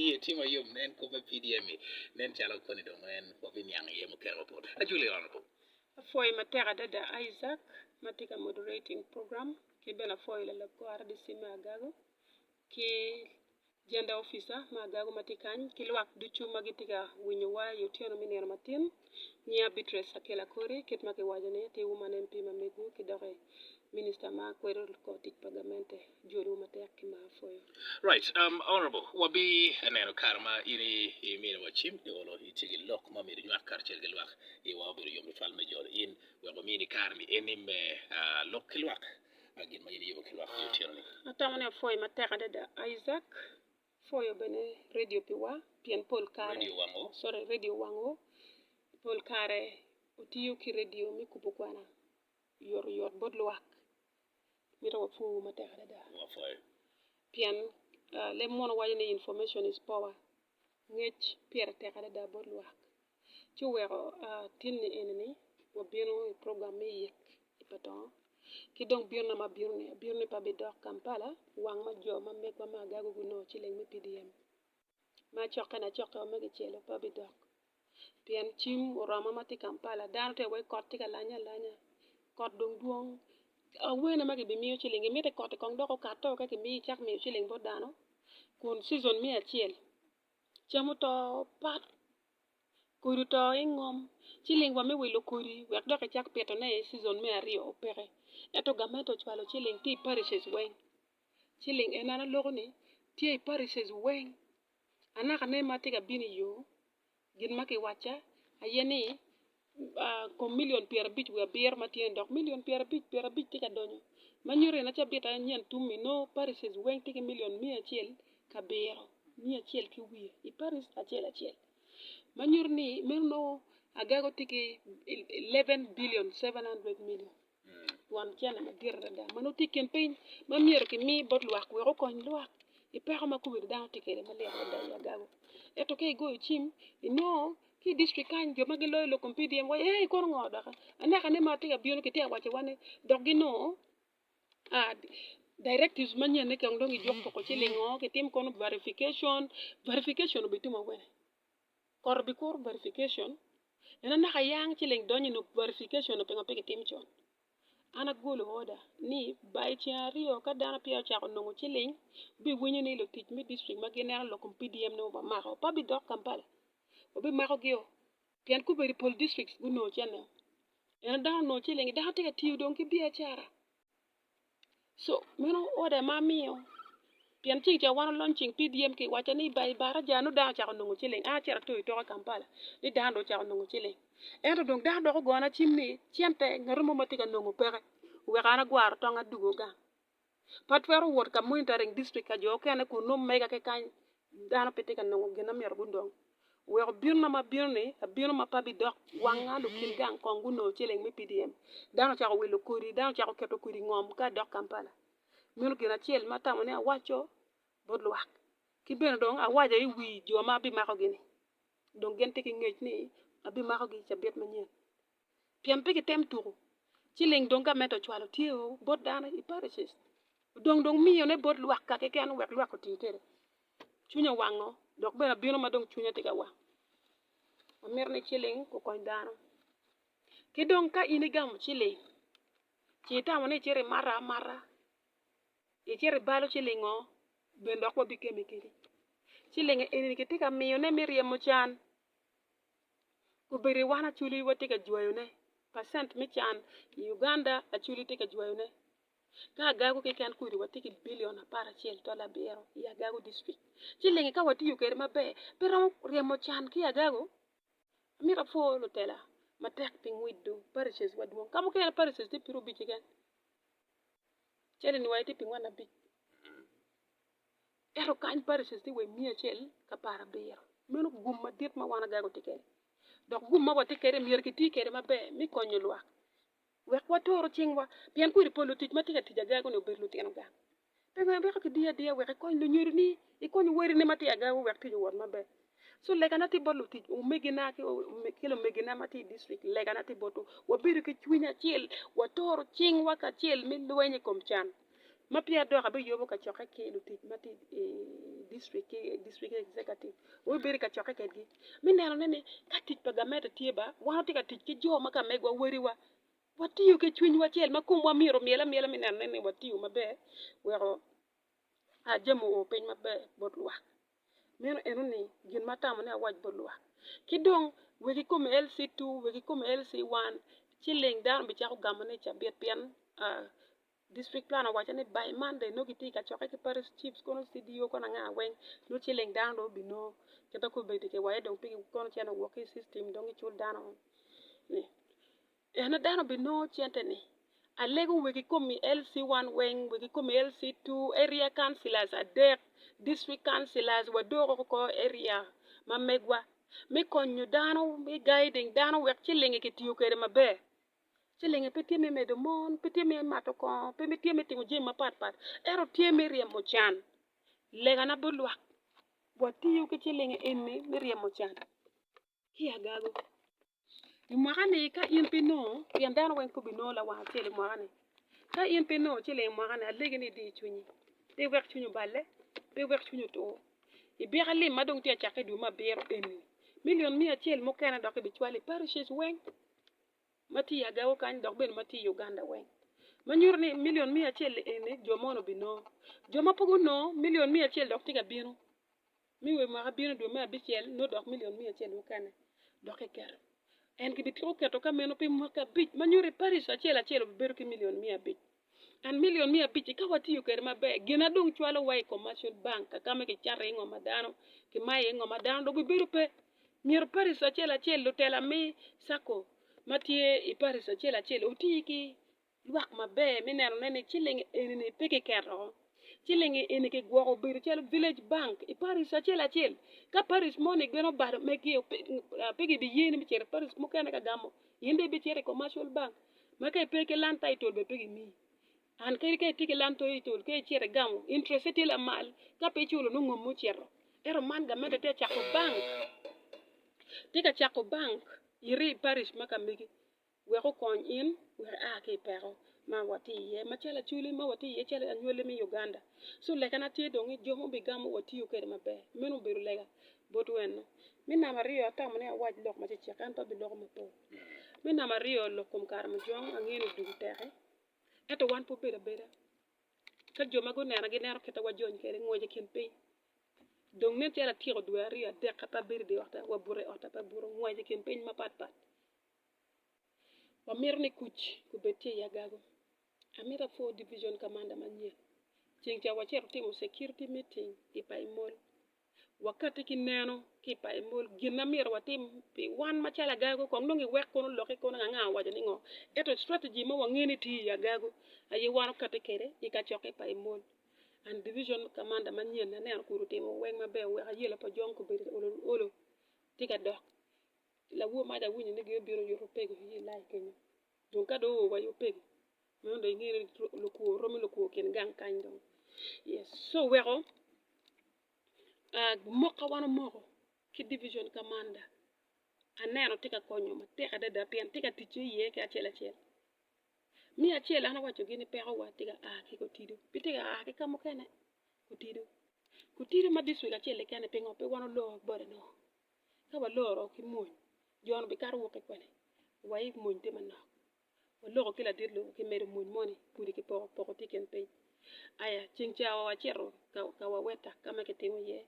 Iye tye ma yom nen kop me PDM-mi nen calo koni dong en wa biniang iye mukene mapol. Ajuli Honorable. Apwoyi matek adada Isaac ma tye ka moderating program ki bene apwoyi lalab kor RDC me Agago ki Gender Officer me Agago ma tye kany ki lwak ducu ma gitye ka winyowa i otyeno me nino matin. Nyinga Beatrice Akel Akori, kit ma kiwaco ni ati Woman MP ma megwu ki doki Minister ma kwedo kor tic pa gamente, jol wu matek ki mar pwoyo. Right um honourable wa bi neno kare ma in i mine wa cim i olo i tye ki lok ma myero nywak karacel ki lwak i wa obedo yom tutwal me jolo in wek wa mini kare ni eni me ah lok ki lwak gin ma in iyubo ki lwak i otyeno ni. Atamo ni apwoyi matek adada Isaac. Pwoyo bene redio pi wa pien pol kare sorry redio wango pol kare watiyo ki redio me kubo kwana oyotoyot bot lwak mito wapwowu matek adada pien leb munu waco ni information is power ngec pire tek adada bot lwak ci oweko tinni eni wabino i program me yek i Patongo ki dong bino na ma abino ni abino ni pe abidok Kampala wang ma jo ma megwa ma agaga gunongo ciling me PDM ma acokke na acokke wa ma kicelo pe abidok pien cim oroma ma atye i Kampala dano tye ka waci kot tye ka lanye alanya kot dong dwong awene ma kibimiyo ciling imite kot-ti kong dok okato ka kimiyo icak miyo ciling bot dano kun cizon me acel cam oto pat kodi oto i ngom ci ling wa me wilo kodi wek dok ecak pitone i cizon me aryo peke ento gamente ocwalo ci ling tye i parishes weng ci ling en an aloko ni tye i parishes weng anaka ne ma tye ka bino iyo gin ma kiwacca aye ni kom milion pyerabic wiye abiro ma tye ni dok milion pyerabic pyerabic tye ka donyo ma nyuto gin acel bit aye nyen tum-mi nongo Paris weng tye ki milion miya acel ki abiro miya acel ki wiye i Paris acel acel ma nyuto ni meno nongo agaga tye ki eleven bilion seven hundred milion. Twon cene madit adada ma nongo tye i kin piny ma myero kimi bot lwak wek okony lwak i peko ma kombeddi dano tye kwede malit adada i agagi. Ento ka igoyo cim inongo ki i dictric kany jo ma giloyo lok kom PDM giwaco ni eei kono ngo doki anekane ma tye ka bino kitye ka waco wani dok ginongo directive manyene kong dong gijuko ci lingo kitim kono verification, verification obitimo kwede. Kor bi kor verification en a naka yang ci leng donyo inge verification pingo pe kitim con an agolo order ni by ceng aryo ka dano peya ocako nongo ci leng bi winyo ni lutic me district ma gineno lok kom PDM ne wa mako pa bi dok Kampala wa bi mako gi o pien ka obedo pol district gunongo cene en a dano onongo ci leng dano tye ka tiyo dong ki biacara Meno order ma amiyo pien ci kicoyo wan walony ceng pi dyem ki waco ni bar i baraca nongo dano ocako nongo ciling an acito atoyo tok i Kampala ni dano dong ocako nongo ciling ento dong dano dok ogona cim ni cente ngat mo ma tye ka nongo peke wek an agwaro tong adugo gang pe atwero wot ka monitoring district ka jo mukene kun nongo mega kekany dano pe tye ka nongo gin ma myero gudong Wek obinna ma bino-ni abino ma pe abidok wanga lukin gang kong gunongo celeng me PDM. Dano ocako wilo kodi, dano ocako keto kodi i ngom ka adok Kampala. Meno gin acel ma atamo ni awaco bot lwak. Ki bene dong awaco i wi jo ma abimakogi-ni, dong gin tye ki ngec ni abimakogi i cabit manyen. pien pe gitem tuku ci ling dong gamente ocwalo tye o bot dano i Paracet odong dong miyone bot lwak ka keken wek lwak oti kwede. Cwinya owango dok bene abino ma dong cwinya tye ka wang. Amito ni ciling okony dano. Ki dong ka in igamo ciling ci itamo ni icito imato amata, icito ibalo cilingo bene dok wabikemme kwede. Ciling eni kitye ka miyone me ryemo can Obedo i wan Acholi watye ka jwayone, percent me can i Uganda Acholi tye ka jwayone. Ka agago keken kudi watye ki billion apar acel dol abiro i agago district. Ci lenge ka watiyo kwede maber pe romo ryemo can ki agago. Amito apwoo lutela matek pi ngwiddo parishes wa dwong. Ka mukene parishes tye piero abic keken. Cali ni wa itye pi ngwen abic. Ento kany pa recess tye wa i miya acel ka par abiro. Meno gum madit ma wan agaga watye kede. Dok gum ma watye kede myero kiti kede maber mi konyo lwak wek watoro cing wa pien kwedi po lutic ma tye ka tic agaga ni obedo lutino gang. Pekene weko ki diyo adiya wek ikony lunyodo ni ikony weri ni ma tye agaga wek tic owot maber. So legana tye bot lutic omegina ki lumegina ma tye i district, legana tye botwu wabedo ki cwiny acel, waturu cingwa kacel me lweny i kom can. Ma peya dok abiyubo kacokke ki lutic ma tye i district ki district executive wabibedo i kacokke kwedgi me nenone ni ka tic pa gamente tye ba wan watye ka tic ki jo ma kamegwa, wadiwa, watiyo ki cwinywa acel ma komwa myero omyel amyela me nenone ni watiyo maber weko jami oo piny maber bot lwak. Meno eno ni gin ma atamo ni awac bot lwak. Ki dong wek i kom LC two, wek i kom LC one ci ling dano bicako gamo ni cabit pien district planner owaco ni by Monday nongo gitye ka cokke ki parish chiefs kono CDO kono anga weng nongo ci ling dano dong obino kit ma kobedi kiwayo dong pigi kono cene wok ki i system dong gicul dano ni En a dano binongo cente ni. Alego wek ikomi LC one weng wek ikomi LC two area councilors adek district councilors wa dok oko area ma megwa me konyo dano me guiding dano wek cilingi ki tiyo kwede maber cilingi pe tye me medo mon pe tye me mato kongo pe tye me timo jami mapat pat ento tye me ryemo can lega na bulwak wa tiyo ki cilingi eni me ryemo can. ki agago i mwaka-ni ka in pe inongo pien dano weng pe obinongo lawang acel i mwaka-ni ka in pe inongo ciling i mwaka-ni alegi ni idi cwinyi pe iwek cwinyi oballe pe iwek cwinyi otur ibyeka lim ma dong tye ka cakke i dwe me abiro eni milion miya acel mukene dok ibicwalo i parishes weng ma tye i agago kany dok bene ma tye i Uganda weng ma nyuto ni milion miya acel-li eni jo moni obinongo jo ma pe gunongo milion miya acel dok tye ka bino. Mi we mwaka bino dwe me abicel nongo dok milion miya acel mukene dok kiketo. En gibitiko keto ka meno pi mwaki abic, ma nyuto ni parish acel acel obibedo ki milion miya abic. And milion miya abic-ci ka watiyo kwede maber, gin adong cwalowa i Commercial Bank ka ma kicato iye ngo ma dano kimayo iye ngo ma dano dong bibedo pe. Myero parish acel acel, lutela me Sacco ma tye i parish acel acel oti ki Lwak maber me neno ne ni ciling enini pe kiketo. Ciling eni kigwoko obedo calo village bank i parish acel acel. Ka parish mo ni gin obalo megi o pe gibi yeni me cito i parish mukene ka gamo in dong ibi cito i commercial bank ma ka ipe ki land title bene pe gimiyi. And kadi ka itye ki land title ka icito igamo interest ne tye lamal ka pe iculo nongo ngom ocito. Ento man gamente tye ka cako bank tye ka cako bank iri i parish ma ka megi. wek okony in wek ia ki i peko ma watye iye macalo acwali ma watye iye calo anywali me Uganda. So lekana tye dong ni jo ma wubigamo wa tiyo kwede maber. Meno obedo lega bot weno. Me namba aryo, atamo ni awac lok macecek ento abiloko mapol. Me namba aryo, lok kom kare mujong angeyo ni odul teke ento wan pe wabedo abeda. Ka jo ma gunena gineno kit ma wajony kwede ngwec i kin piny. Dong nen calo atyeko dwe aryo adek ka pe abedo i dye otta, wabuto i otta pe abuto, ngwec i kin piny mapatpat. Wamito ni kuc obed tye i agago. Amito apwoo Division Commander manyen. Ceng ca wacito timo security meeting i Paimol. Wakati ki neno ki i Paimol gin ma myero watim pi wan macalo agago kong nongo i wek kono loki kono anga owaco ni ngo. Ento strategy mo wange ni tye i agago aye wan okati kede i kacokke i Paimol. And Division Commander manyen aneno kun otimo weng maber oweko ayela pa Jong Kubedi olo olo tye ka dok. ki labwor mac awinyo ni gin obino yuto opego i lai kenyo dong ka dong oo wa i opego meno dong ingene ni lukwor romo lukwor kin gang kany dong yes co weko moka wan omoko ki division kamanda aneno tye ka konyo matek adada pien tye ka ticce iye ki acel acel me acel an awaco gin ni peko wa tye ka a ki kotido pe tye ka a ki kamukene kotido kotido ma district acel keken ni pingo pe wan olor bot ango Ka waloro ki mony, jo-nu bikato woko ki kwene, wa i mony tye manok. Waloko ki ladit lok ki medo mony moni kudi ki poko poko tye i kin piny. Aya, ceng ca wa wacito ka, ka wawetta ka ma kitimo iye,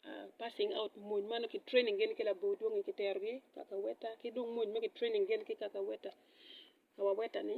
ah, passing out mony ma nongo ki training gin ki labor dwongi ki terogi ka kawetta, ki dong mony ma ki training gin ki ka kawetta, ka wawetta-ni.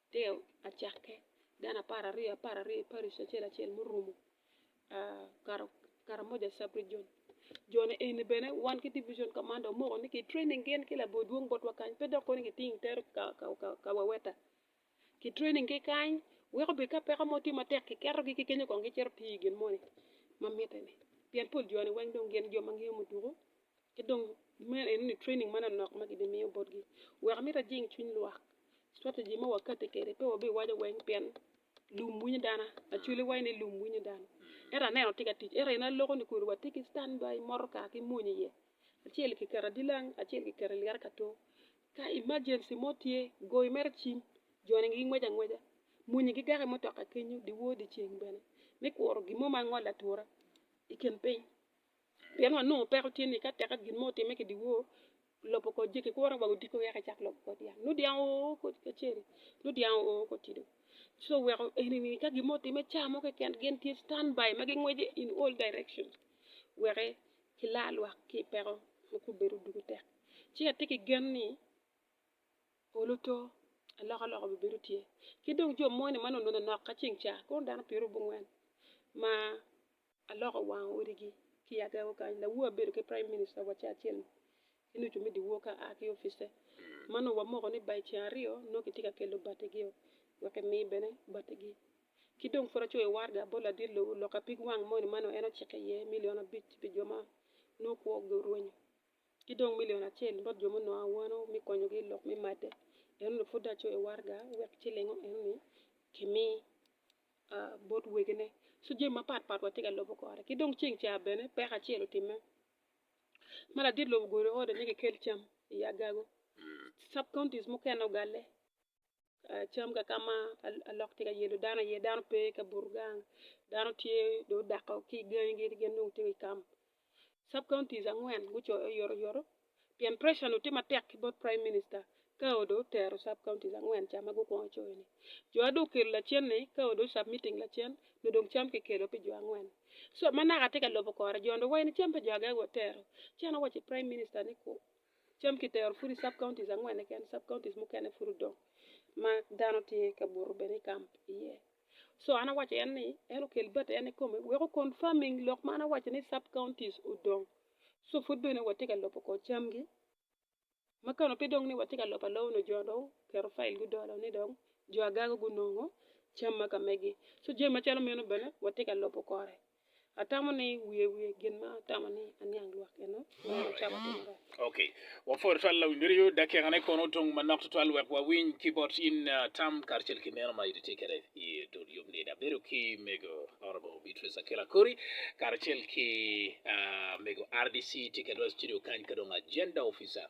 Mateo acakke, dano apar aryo apar aryo, Pareco acel acel murumo karamoja sub region jone eni bene wan ki division commander omoko ni ki training gin ki labor dwong botwa kany pe dok kono ni kiting itero ka waweta ki training ki kany weko obed ka peko mo tye matek kiketogi ki kenyo kong gicito tiyo i gin moni ma mitte-ni pien pol joni weng dong gin jo ma ngeyo muduku Ki dong meno eno ni training manonok ma gibimiyo botgi wek amito ajing cwiny lwak. Strategy ma wakati kede pe wabi waco weng pien lum winyo dana actually wai ni lum winyo dana ento aneno tye ka tic ento eno aloko ni kodi watye ki stand by motoka ki mony iye acel kiketo adilang acel kiketo i lyeto kato ka emergency mo tye goyo mere cim joni gingwec angweca muni gigako i mutoka kenyo dyewor dyeceng bene me kuro gin mo ma angolo atura i kin piny. Pien wanongo peko tye ni ka tek gin mo otimme ki dyewor, lobo kor jegi kuro wa odiko wek ecak lobo kor dyang. Nongo dyang oo kor kacel, nongo dyang oo kor tido. So weko enini ka gin mo otimme ca mo keken gin tye stand by ma gingwece in all direction wek gila lwak ki i peko ma kong obedo dwogo tek. Ci atye ki gen ni polo to, alokaloka bibedo tye. Ki dong jo moni ma nononok ka ceng ca kono dano pyeraryo bongwen ma Aloko wang odigi ki agego kany. Lawu abedo ki Prime Minister wa Churchill ki nucu me diwor ka aa ki office. Ma nongo wamoko ni by ceng aryo nongo kitye ka kelo batigi-o wek emi bene batigi. Ki dong pud acoyo warga bot ladit lobo lok apig wang moni ma nongo en ociko iye milion abic pi jo ma nongo kwogi orwenyo ki dong milion acel bot jo munongo awano me konyogi i lok me madde. Eno ni pud dong acoyo warga wek cilingo eno ni kimi. bot wegine. So jami mapat pat watye ka lobo kore. Ki dong ceng ca bene peko acel otimme. Ma ladit lobo ogudo ode ni kikel cam i agago. Sub counties mukene ogalle cam ka ka ma alok tye ka yelo dano iye. Dano pe ka buto gang, dano tye dong odako ki gangigi gin dong tye i kam. Sub counties angwen gucoyo yotoyoto pien pressure onongo tye matek ki bot Prime Minister ka odong otero sub counties angwen ca ma gukwongo coyo ni. Jo adong okelo lacen ni ka odong submitting lacen nyo dong cam ki kelo pi jo angwen. So ma naka atye ka lobo kore jo ni wa eni cam pe jo agaga watero. Ci an awaco i Prime Minister ni ku cam ki tero pud i sub counties angwen keken sub counties mukene pud odong ma dano tye ka buto bene i camp iye. So an awaco en ni en okel bati en ikome wek o confirming lok ma an awaco ni sub counties odong. So pud bene watye ka lobo kor camgi. Ma kano pe dong ni watye ka lobo aloba onongo jo dong oketo file gudolo ni dong jo agaga gunongo cam ma ka megi. So jami macalo meno bene watye ka lobo kore. Atamo ni wiye wiye gin ma atamo ni aniang lwak eno meno cawa timo rac. Ok, wapwod tutwal lawiny ryo dakika ne kono otung manok tutwal wek wawiny ki bot in tam karcel ki meno ma itye kede i dul yub ni. Abedo ki mego Honorable Beatrice Akela Kori karcel ki mego RDC tye kede wa i studio kany ka dong agenda officer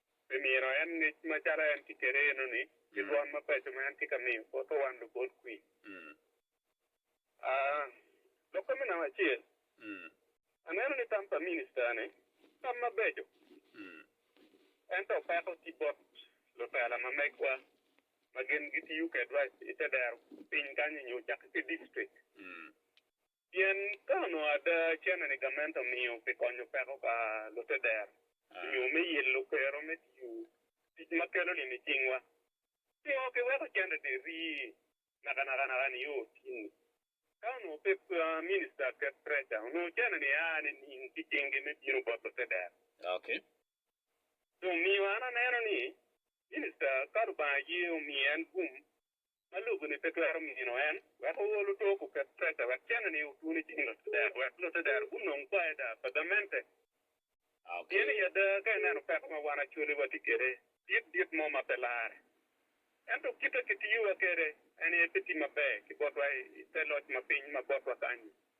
pi mino en ngec macalo en tye kwede enoni ki dwon mabeco ma en tye ka miyo bot owan lubol kwir. Lok ka me namba acel, aneno ni tam pa minista-ni tam mabeco, ento peko tye bot lutela ma megwa ma gin gitiyo kwedwa i te dero piny kany-nyu cakke ki dictrik. Pien ka onongo ada cene ni gamente omiyo pi konyo peko pa lute dero nyo me yelo kero me tiyo tic ma kelo lim i cingwa, pingo kiweko cente-ni ri nakanaka nio otinni? Ka onongo pe Minista Ket Pressure, onongo cene-ni aa nining ki cingi me bino bot lute dero? Dong miyo an aneno ni, Minista ka Lubanga ye omiyo en gum ma lobo-ni pe twero mino en wek ool oto kuket prece wek cene-ni otun i cing lutedero wek lutedero gunong paida pa gamente. Pien i ada ka ineno peko ma wan acoli watye kwede, dit dit mo ma pe larre. Ento kite kitiyowa kwede en aye pe tye maber ki botwa i te loc ma piny ma botwa kany-nyi.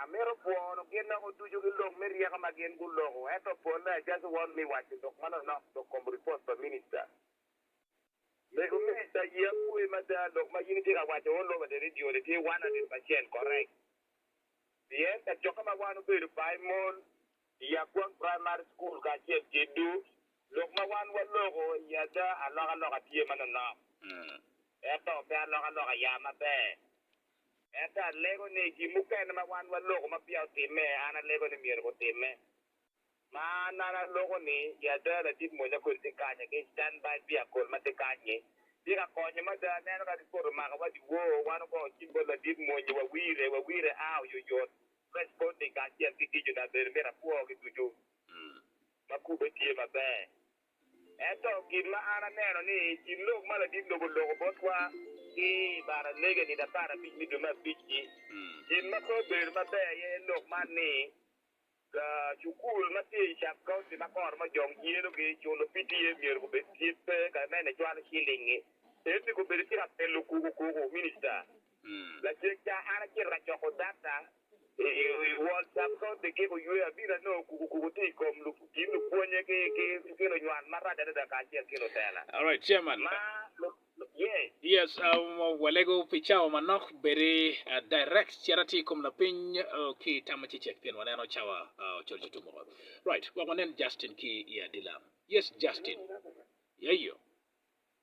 Amito pwono gin loko ducu ki lok me ryeko ma gin guloko, ento pole I just want me waco lok ma nonok dok kom report pa minister. Mego minister ye apoyi mada lok ma in itye ka waco all over the radio ni tye one hundred percent correct. Pien kacokke ma wan obedo pa I mol I Agwang primary school kacel ki Dhu, lok ma wan waloko I ada alokaloka tye ma nonok. Ento pe alokaloka ya maber. Ento alego ni gin mukene ma wan waloko ma peya otimme, an alego ni myero gutimme. Ma an an aloko ni i ada ladit mwonya kodi tye kany agi i stand by vehicle ma tye kany-nyi. Tye ka konyo mada. Aneno ka ripot omaka wa dyewor, wan ogongo cim bot ladit mwonyi, wawire, wawire a oyoyot, responding kacel ki gicuna bene myero apwogi ducu ma kubbe tye maber. Ento kit ma an aneno ni i kin lok ma ladit lobo oloko botwa ki i baralege nino apar abic me dwe me abic-ci, gin ma pe obedo maber aye lok man ni, Cukul ma tye i Sub-County ma kor ma jo gyelogi, culo PTA myero gubed tye pe kare mene cwalo cilingngi, ento ni gubedo tye ka pelo kuku kuku, Minista. Lacwecca, an acito ka coko data i World Subconscious Giko Yweyo. Abino anongo kuku kuku tye i kom kin lupwonnye ki ki lunywal marac adada kacel ki lutela. Alright Chairman. Ma lu, yeah. Yes, uh, walego pi cawa manok bedi uh, direct cit atye i kom lapiny uh, ki tam ma cecek pien waneno cawa uh, ocol ci tum woko. Right, wek wanen Justin ki i adila. Yes, Justin. Yeyo.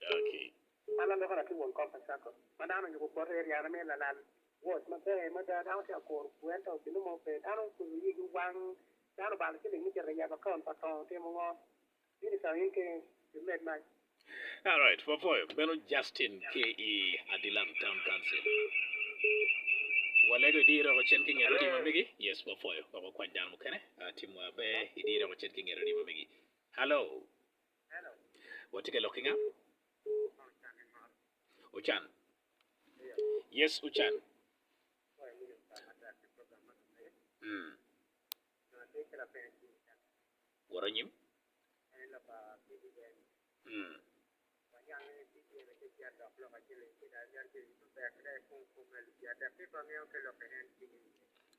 Daki. Ma lalokere ki won kop Asako ma dano onyubo bote i ryane me lalal woc maber mada, dano tye ka koro pur ento gin mo pe. Dano ocungo iyigi wang, dano obalo ciling me cito yabo akaun pa tongo timo ngo? In itongo in keni pi med mac. Alright wapoyo meno Justin ki i Adilang town council. Walego idiyo reko cen ki nget odi ma megi. Yes wapoyo wek wakwany dano mukene tim wa be idiyo reko cen ki nget odi ma megi. Hello. Watye ka lok ki nga? Ocan. Yes, Ocan. Mm. Woro nyim. Mm.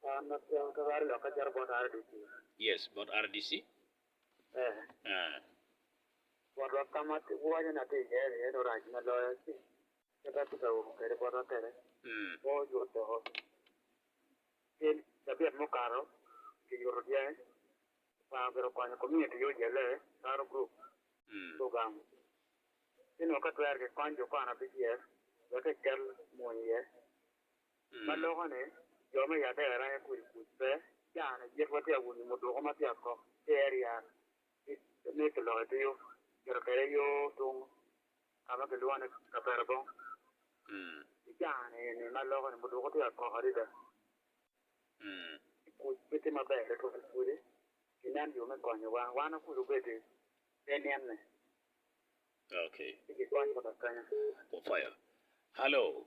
Kwan ma pyem ka lwar lok ka cito bot RDC. Yes, bot RDC. Eh. Ah. Botwa ka ma waco na ti iye ni en orac ma loyo ci kit ma ti ka umo kede botwa kede. Mm. Mo yuto cel cabit mukato ki yuto dyangi kwango gire konyo community yo jelle karo group Mm. program ci nongo ka twer ki kony jo kwana BGF wek ekel mony iye Ma loko ni, jo me Yadera aye kwede kuc pe, caa ni cik watye awunyu muduku ma tye akok ki area ki ni kiloko itiyo kito kwede yo tung ka ma kilwongo ni Kaperabong. I caa ni eni ma loko ni muduku tye akok adada ki kuc pe tye maber tutwal pwodi ki nen yo me konyo wa, wan wakuc obedi pe nyen ni pe ki kony wa kekenya. Hallo.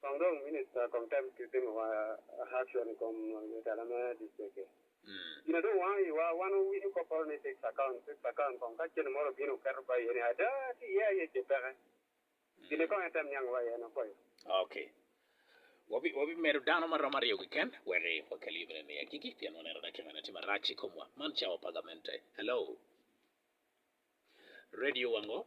Kong dong Minista kom tem ki timo wa action i kom mutala me district-ti. Gin a dong wango iwa, wan wawinyo kopporo ni fixed account, fixed account kong ka cente moro obino oketo ba iye ni ada tye iye aye ce peke. Gin-ni kong en tem niango wa iye ni okoyo. Ok. Wabi, wabimedo dano ma romo aryo keken wek i wakel yub enini i agikki pien waneno daki mene tye marac i komwa. Man cawa pa gamente. Hello? Radio wango?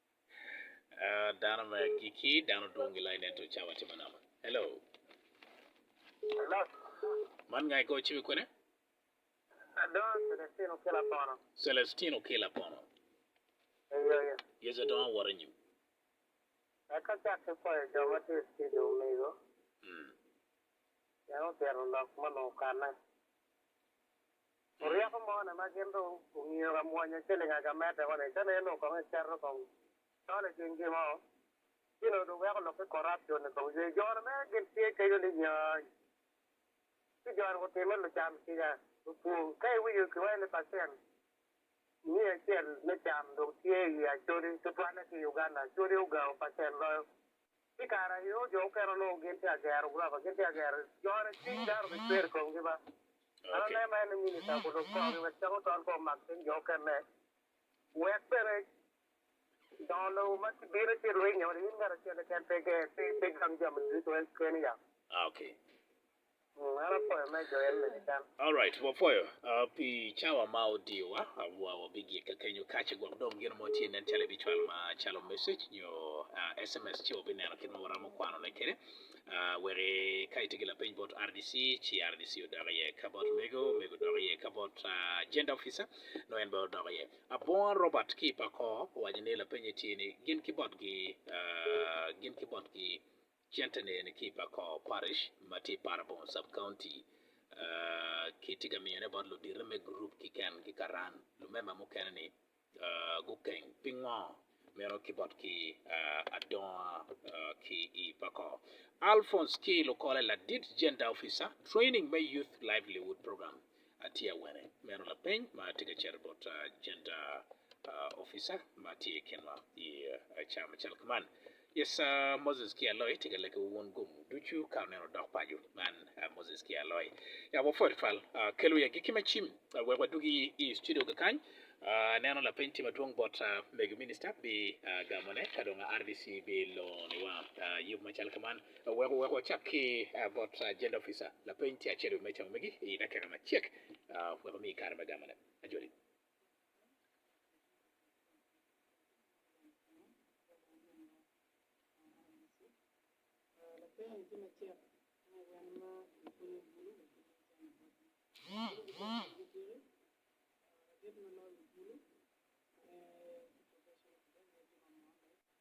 Ah, dano me agikki, dano dwong gilai nen to cawa tye manok. Hello. Man ngai go cibe kwene? Adongo Celestino kila pono. Celestino kila pono. Eyo eyo. Yes adongo awor anyim. Eka cak ki kwayo jo ma tye studio omigo. Mm. Yango tito lok ma nongo kanne. Ryeko mo ne ma gin dong ongiyo ka mwonyo ciling aga medde ko ni, ka ne eno kong iketo kong tol i cing gi mo, ci no dong weko lok ki corruption ni kong ye. Jone me gin tye kenyo ni nyony. Ci jone gutimme lucam kica lupwong. Ka iwinyo ki waco ni percent miya acel me cam dong tye i ye acodi tutwalle ki i Uganda, acodi ogao percent loyo Pi kare ayo, jo mukene onongo gin tye ka gero gurofa, gin tye ka gero jone, cwiny dano obicwer i komgi ba. An aneno en ni minita okob lok korgi wek cam otol kong omak cwiny jo mukene, wek bene dongo lobo ma kibino ci rwinyo ni in ngat acel keken pe ger, pe gang jami ducu keni yam. Alright, wapwoyo uh, pi cawa ma odiyowa wa wabigikke kenyo kace gwok dong gin mo tye nen calo ibicwalo ma calo message nyo uh, SMS ci wabineno kit ma waramo kwanone kede uh, weki ka itye ki lapeny bot RDC ci RDC odok iye ka bot mego mego odok iye ka bot uh, agenda officer no en bene odok iye. Abonga Robert ki i Pako owaco ni lapenye tye ni gin ki botgi uh, gin ki botgi Centerni eni ki i Pacoa Parish ma tye i Parabong Sub-County. Kitye ka miyone bot ludito me gurup kiken ki karan. Lumemba mukene-ni gukeng pingo meno ki botgi adonga ki i Pacoa. Alphonse ki lukole ladit Gender Officer, Training me Youth Livelihood Program Atye awene meno lapeny ma atye ka cito bot Gender Officer ma tye i kinwa i ca macalo kuman. Yes, Moses ki Aloy tye ka leke wa wun gomu ducu ka oneno odok paco. Man Moses ki Aloy. Ya wapwod twatwal. Kel wiye agikki ma cim wek wadugi i studio kakany. Aneno lapeny tye madwong bot mego Minister bi gamone ka dong RDC bi loni wa yub macalo kuman. Wek wacak ki bot Jail Officer, lapeny tye acel wi meja omege i dakika macek wek omiyi kare me gamone. Ajoli.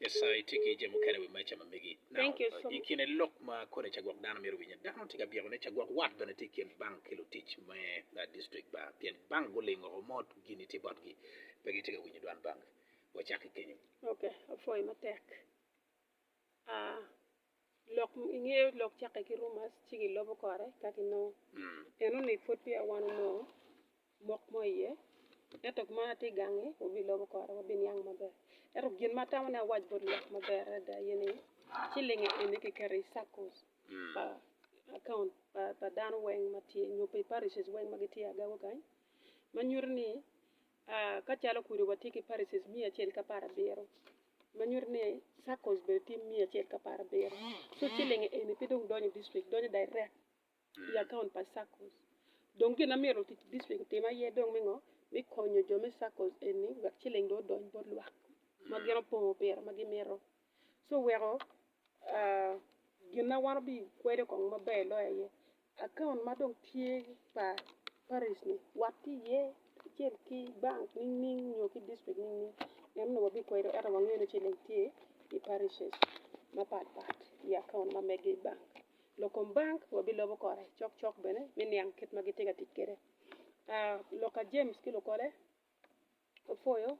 Nyasaye tye ki jami mukene i wi meja ma megi. I kin lok ma koni ca gwok dano myero owinye, dano tye ka byeko ni ca gwok wat bene tye i kin bank ki lutic me distrik ba pien bank gulingo woko mot gini tye botgi pe gitye ka winyo dwan bank. Wacak ki kenyo. Lok i nge lok cakke ki rumors ci gilobo kore ka ginongo. Eno ni pud peya wan onongo mok mo iye. Ento man atye gangi wabilobo kore wabiniang maber. Ento gin ma atamo ni awac bot lok maber adada aye ni cilinge eni kiketo i circles pa account pa dano weng ma tye nyo pi parishes weng ma gitye agaga kany ma nyuto ni A Ka calo kwede watye ki parishes miya acel ki apar abiro, ma nyuto ni circles bene tye miya acel ki apar abiro. So ciling eni pe dong donyo i district, donyo direct i account pa circles. Dong gin ma myero lutic district otim aye dong me ngo? Me konyo jo me circles eni wek ciling dong odony bot lwak ma gin opongo pire ma gimito. ci weko gin ma wan bi kwedo kong maber loyo aye account ma dong tye pa parish ni wat ki iye kacel ki bank nining nining nyo ki district nining nining en onongo wa bi kwedo ento wa ngeyo ni ciling tye i parishes ma pat pat i account ma mege i bank lok kom bank wa bi lobo kore cok cok bene me niang kit ma gitye ka tic kwede Luka James ki lukole Opwoyo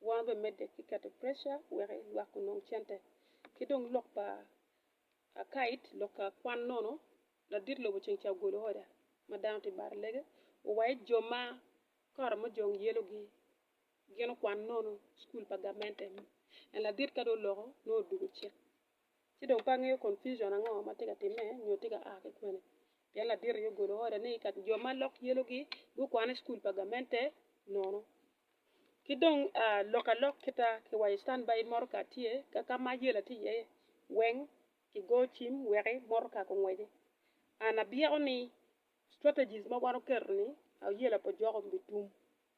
wa bene medde ki keto pressure wek lwak gunong cente. Ki dong lok pa akait lok ka kwan nono ladit lobo ceng ca ogolo order ma dano tye baro lege owaye jo ma kare mojong yelo gi gin okwan nono school pa gamente en ladit ka dong oloko nongo odugo cik. Ci dong pe angeyo confusion ango ma tye ka timme nyo tye ka a ki kwene. Pien ladit aye ogolo order ni ka jo ma lok yelogi gukwane i cukul pa gamente nono. Ki dong lok alok kita ki wa i standby motoka tye ka ka ma yela tye iye weng kigo cim weki motoka kungweci. An abyeko ni strategies ma wan oketo ni yela pa joko bitum.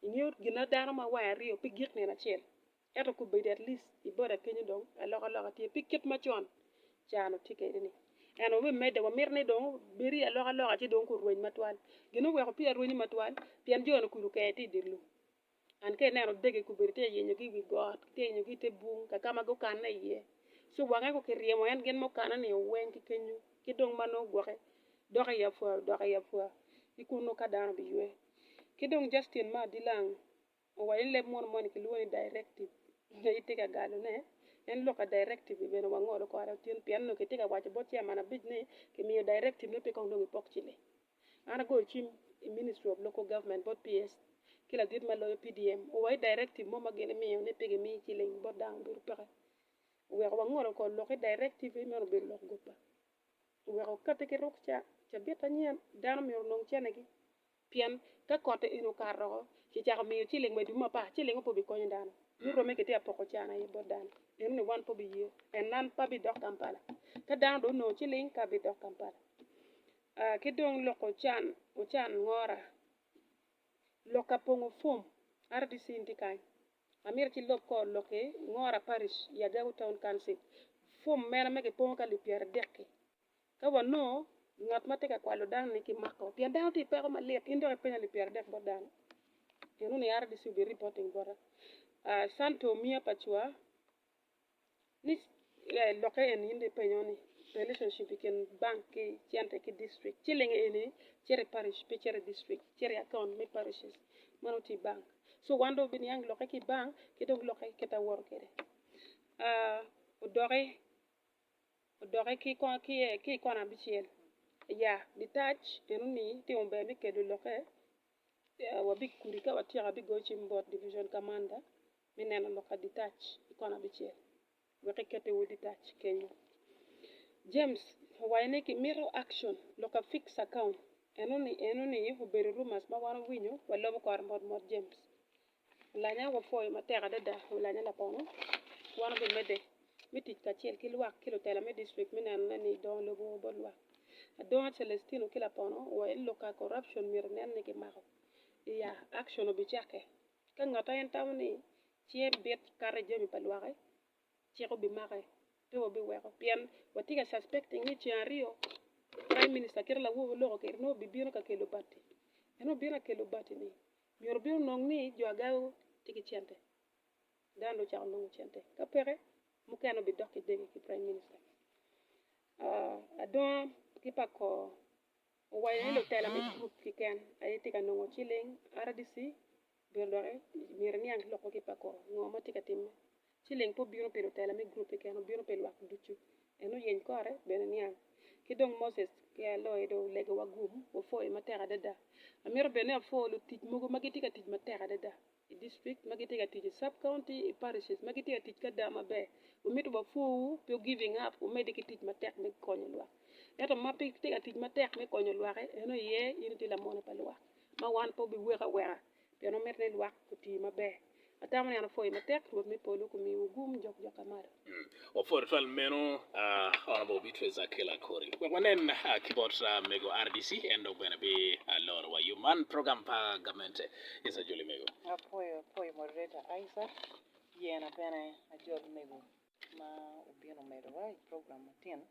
Ingeyo gina dano ma wange aryo pe gik nino acel. Ento kubedi at least iboda kenyo dong aloka loka tye pi kit macon caa nu tye kede ni. Eno me meda wa mito ni dong obedi aloka loka ci dong kurweny matwal. Gin oweko peya rwenyo matwal pien jo ni kulu kee tye idye lum. And ka ineno dege kubedi tye yenyo gi iwi got tye yenyo gi ite bung kaka ma gukanne iye. So wange ko kiryemo en gin mukane ni oweny ki kenyo ki dong ma nongo gwoke dok i apwa dok i apwa ki kunu ka dano biywe. Ki dong Justin ma adilang. Owaco ni leb muno moni kilwongo ni directive. Nyo itye ka galone? En lok ka directive ni bene wangolo kore Otyeno pien onongo kitye ka waco bot chairman abic ni kimiyo directive ni pe kong dong ipok ciling. An agoyo cim i Ministry of Local Government bot PS ki ladit ma loyo PDM owaco ni directive mo ma gin imiyo ni pe gimiyi ciling bot dano obedo peke. Oweko wangolo kor lok ki directive ni meno obedo lok goba. Oweko okati ki rukca cabit anyen dano myero onong cene gi. Pien ka kotte eni okato oko, ci cako miyo ciling wa i dwe mapar, cilingngo pe obikonyo dano. Ni romme kitye ka poko can aye bot dano. Eno ni wan pe obiye. En nan pe abidok Kampala. Ka dano dong onongo ciling, ka abidok Kampala. Ah, ki dong loko ocan, ocan ngora. Lokka pongo fom, RDC ni tye kany. Amyero ci lok kor lok ki Ngora Parish i Agego Town Council. Fom mena ma kipongo ki alip pyeradek-ki, Ka wanongo ngat ma tye ka kwalo dano-ni kimako pien dano tye i peko malit, in dok ipenyo ni pyera dek bot dano? Gin moni a RDC obi reporting bota. Ah, Santo Mia Pacua, ni eh, lokke eni in dong ipenyo ni relationship i kin bank ki cente ki district. Ciling eni cito i parish, pe cito i district, cito i account me parishes. Meno tye i bank. So wan dong biniang lokke ki i bank ki dong lokke kit awoto kwede. Ah, odoki Odokke ki i kona abicel, Aya, Litac enoni timo ber me kelo lokke wa big kudi ka watyeko abigoyo cim bot Division Commander me neno lokke Litac i kona abicel wek ekete wod Litac kenyo. James owaco ni kimito action lokke fixed account enoni enoni obedo rumors ma wan owinyo wa lobo kore mot mot James Lanya wapwoyo matek adada wi lanya lapono. Wan gumedde me tic kacel ki lwak ki lutela me district me nenone ni dongo lobo bot lwak. Adonga Celestino ki lapono wa i lok ka corruption myero nen ni kimako iya, action obicakke. Ka ngat aen tamo ni cinge bit kato i jami pa lwak-ki, cik obimake, pe wabiweko pien watye ka suspecting ni ceng aryo Prime Minister kit awobi oloko keri nongo obibino ka kelo bati. En obino akelo bati-ni Myero obin onong ni jo agaga tye ki cente, dano dong ocako nongo cente, ka peke mukene obidok ki dege ki prime minister. Uh, adonga ki pa kor owaco ni lutela me gurup kiken aye tye ka nongo ciling, RDC obedo doki myero eniang ki lok ma tye ki pa kor ngo ma tye ka timme. Ciling pe obino pi lutela me gurup keken, obino pi lwak ducu. En oyeny kore bene niang. Ki dong Moses ki Aloe dong olego wa gum, wapwoyo matek adada. Amito bed ni apwo lutic mogo ma gitye ka tic matek adada i district, ma gitye ka tic i sub county, i parishes, ma gitye ka tic ki ada maber. Wamito wapwowu pi wu giving up, wumedde ki tic matek me konyo lwak. Ento ma pe itye ka tic matek me konyo lwak-ki, eno aye in itye lamone pa lwak, ma wan pe wubiweki aweka. pien omito ni lwak guti maber. Atamo ni an apwoyi matek. Rwot me polo okomiwu gum jok jok ka malo. Wapwoo tutwal meno Honourable Beatrice Akila Kori. Wek wanen ki bot mego RDC en dok bene bi loro wa yo man program pa gamente. Yes ajoli mego. Apwoyo apwoyo moderator Aiza Yena bene ajol mego ma obino medo wa i program matino.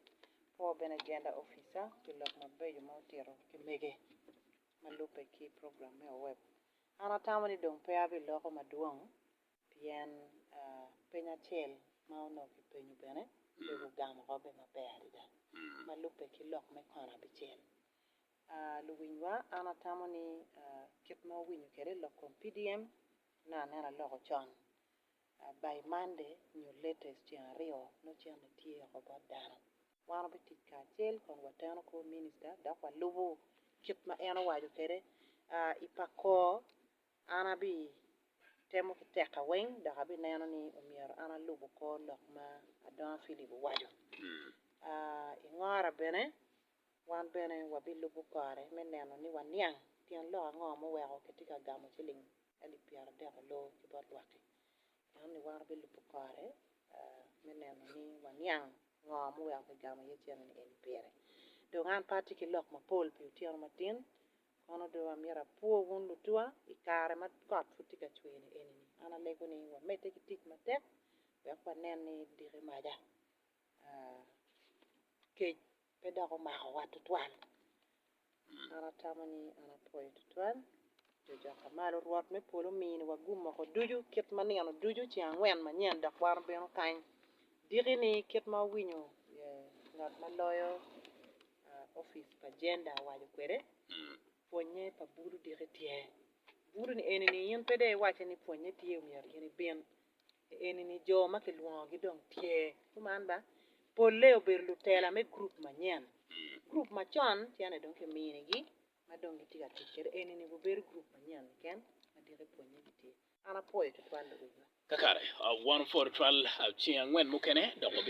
Apwoo bene agenda officer pi lok mabeco ma otito ki mege. ma lubbe ki program me Oweb, an atamo ni dong pe abiloko madwong pien peny acel ma onongo kipenyo bene pe gugamo kobbe maber adada ma lubbe ki lok me kono abicel. Luwinywa, an atamo ni kit ma wawinyo kwede lok kom PDM nongo aneno aloko con by Monday nyo latest ceng aryo nongo cente tye oko bot dano. wan wabitic kacel kun wateno kor minista dok walubo kit ma en owaco kwede. I Pako, an abitemo ki tekka weng dok abineno ni myero an alub kor lok ma Adonga Philip owaco. I Ngora bene, wan bene wabilubo kore me neno ni waniang tyen lok ango ma oweko kitye ka gamo ciling alip pyeraryo ki adek ki bot lwak-ki. Ento ni wan wabilubo kore me neno ni waniang ngo ma oweko kigamo iye cene ni eni pire. Dong an pe atye ki lok mapol pi otyeno matin, kono dong amyero apwo wun lutuwa i kare ma kot pud tye ka cwer ni eni. An alego ni wamedde ki tic matek wek wanen ni diki maca kec pe dok omakowa tutwal. An atamo ni an apwoyo tutwal cocok ka malo. Rwot me polo ominiwa gum moko ducu kit ma nino ducu ceng angwen manyen dok wan obino kany diki-ni kit ma wawinyo ngat ma loyo opic pa Gender owaco kwede. Pwonye pa bulu diki tye. Bulu-ni eni-ni in pe dong iwacce ni pwonye tye omyero in ibin. I enini jo ma kilwongogi dong tye, kuman ba, polle obedo lutela me gurup manyen. Gurup macon cene dong kiminigi ma dong gitye ka tic kwede, enini gubedo gurup manyen keken ma diki pwonnye gitye. An apwoyo tutwal luwotwa. Kakare, wan opwoyo tutwal ceng angwen mukene dok wabino.